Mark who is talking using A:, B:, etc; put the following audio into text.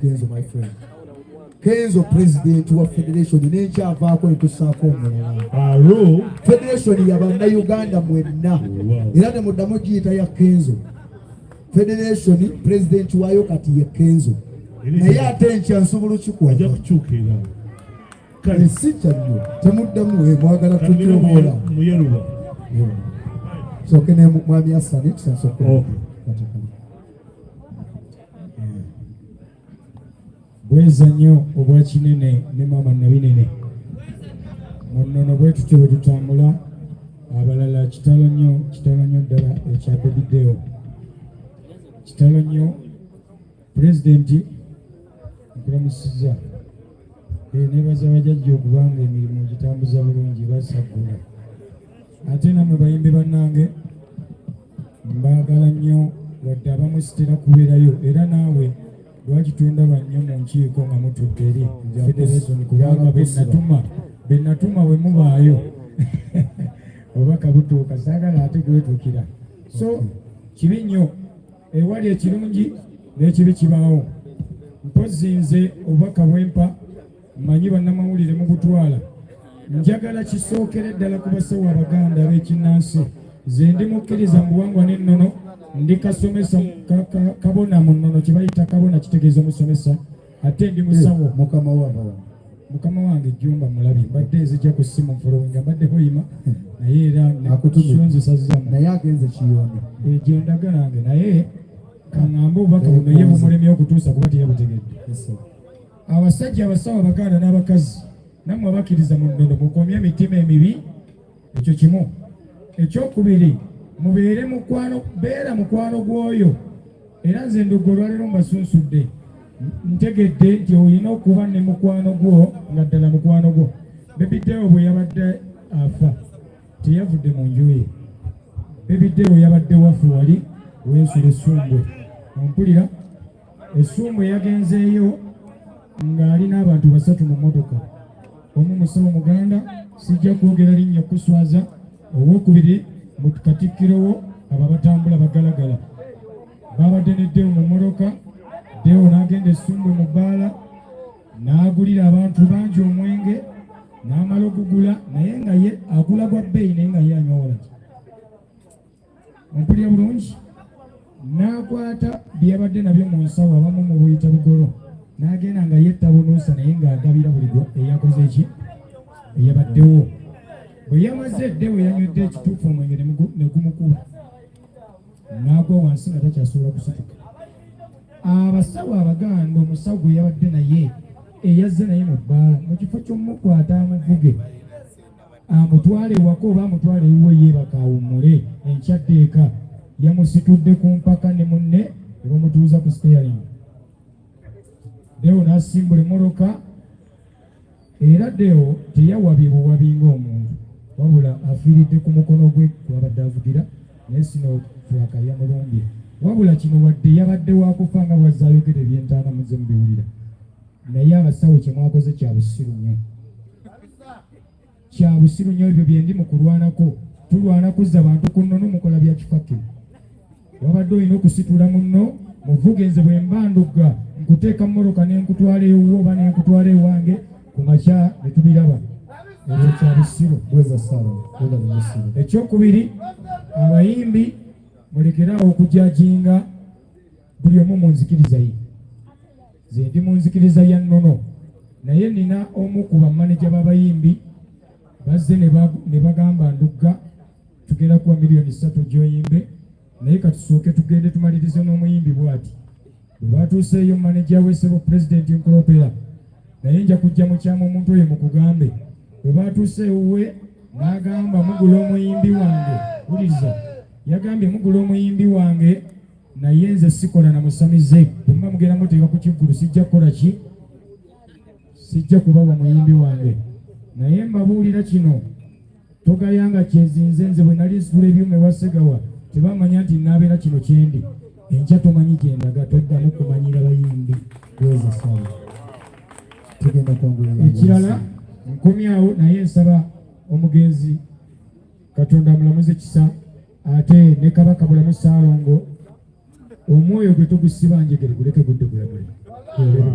A: kenzo my friend kenzo president wa federation nenkyavaako netusaako omulala federation ya bannayuganda mwenna era ne muddamu giyita ya kenzo federation president waayo kati ye kenzo naye ate enkya nsobola okikuwakukyukira kale si kyannyo temuddamu eh, mwagala tutyomwola soke ne mwami asani tusansokola bweza nnyo obwa kinene ne maama nabinene munnono bwe tutyo bwe tutambula abalala kitalo nnyo kitalo nnyo ddala ekya bebideo kitalo nnyo pulezidenti nkulamusiza eh, nebaza bajajja okuba nga emirimu gitambuza bulungi basaggula ate namwe bayimbi bannange mbaagala nnyo wadde abamu sitera kubeerayo era naawe lwaki tondaba nnyo mu nkiiko nga mutudde eri federation kubanga benatuma benatuma we mubaayo oba kabutuuka saagala ate gwetukira so kibi nnyo ewali ekirungi n'ekibi kibaawo mpozzi nze obubaka bwempa mmanyi bannamawulire mu butwala njagala kisookere ddala ku basawo abaganda ab'ekinnansi ze ndi mukkiriza mu buwangwa n'ennono ndi kasomesa kabona mu nnono kye bayita kabona kitegeeza omusomesa ate ndi musawo eh, mukama waba mukama wange jumba mulabi mbadde nzija ku simu nfolowinga mbadde hoyima naye era nakutuonzesazzamu naye agenze kiyonde eh, gyendaga nange naye kaŋambe obubaka buno ye bumulemye okutuusa kuba teyabutegedde Abasajja, abasawo, abaganda n'abakazi nammwe abakkiriza mu nnono mukomye emitima emibi ekyo kimu. Ekyokubiri mubeere mukwano beera mukwano gw'oyo era nze ndugga olwaleero mbasunsudde ntegedde nti olina okuba ne mukwano gwo nga ddala mukwano gwo bebiddewo bwe yabadde afa teyavudde mu nju ye bebiddewo yabadde wafe wali wensula essumbwe ompulira Essuumbo yagenzeeyo ng'ali n'abantu basatu mu mmotoka omu musawo muganda sijja kwogera linnya kuswaza owokubiri mu katikkiro wo abo abatambula bagalagala baabadde ne deo mu mmotoka deo n'agenda essumbwe mu bbaala n'agulira abantu bangi omwenge n'amala okugula naye nga ye agula gwa bbeeyi naye nga ye anyowola mpulira bulungi n'akwata bye yabadde nabyo mu nsawo abamu mu buyita bugolo n'agenda nga yetta bunuusa naye ng'agabira buli gwe eyakoze ki eyabaddewo bwe yamaze edde we yanywedde ekituufu omwenge ne gumukuba n'agwa wansi nga takyasobola kusituka abasawo abaganda omusawo gwe yabadde naye eyazze naye mu bbaala mu kifo ky'omukwata amuvuge amutwale ewaka oba amutwale ewuwe yeebaka awummule enkyadde eka yamusitudde ku mpaka ne munne ne bamutuuza ku steering deo n'asimbula emmotoka era deo teyawabye buwabi ng'omuntu wabula afiiridde ku mukono gwe gwabadde avugira naye sino furaka yamulumbye wabula kino wadde yabadde wakufa nga bwazze ayogera ebyentaana muze mubiwulira naye abasawo kyemwakoze kya busiru nnyo kya busiru nnyo ebyo bye ndi mu kulwanako tulwana kuzza bantu ku nnono mukola bya kifake wabadde olina okusitula munno muvuge nze bwe mba ndugga nkuteeka mmoloka ne nkutwala ewuwo oba ne nkutwala ewange ku makya ne tubiraba ebyo kya busiru bweza sala bweza busiru ekyokubiri abayimbi mulekere awo okujajinga buli omu mu nzikiriza ye ze ndi mu nzikiriza ya nnono naye nina omu ku bamaneja b'abayimbi bazze ne bagamba ndugga tugenda kuwa miliyoni ssatu gyoyimbe naye katusooke tugende tumalirize n'omuyimbi bwati bwe batuuseeyo maneja wesebo pulezidenti nkulopera naye nja kujja mukyama omuntu oyo mukugambe bwe batuuse ewuwe n'agamba mugula omuyimbi wange wuliriza yagambye mugula omuyimbi wange naye nze sikola na musamize bwemba mugenda muteeka ku kivvulu sijja kukola ki sijja kubawa muyimbi wange naye mbabuulira kino togayanga kyezinze nze bwe nali nsitula ebyuma ewasegawa tebamanya nti naabeera kino kyendi enkya tomanyi gyendaga toddamu kumanyira bayimbi bweza sawa tugenda kwangula ekirala nkomyawo naye nsaba omugenzi katonda amulamuze kisa ate ne kabaka bulamu saalongo omwoyo gwe tugusibangegere guleke gudde gulamule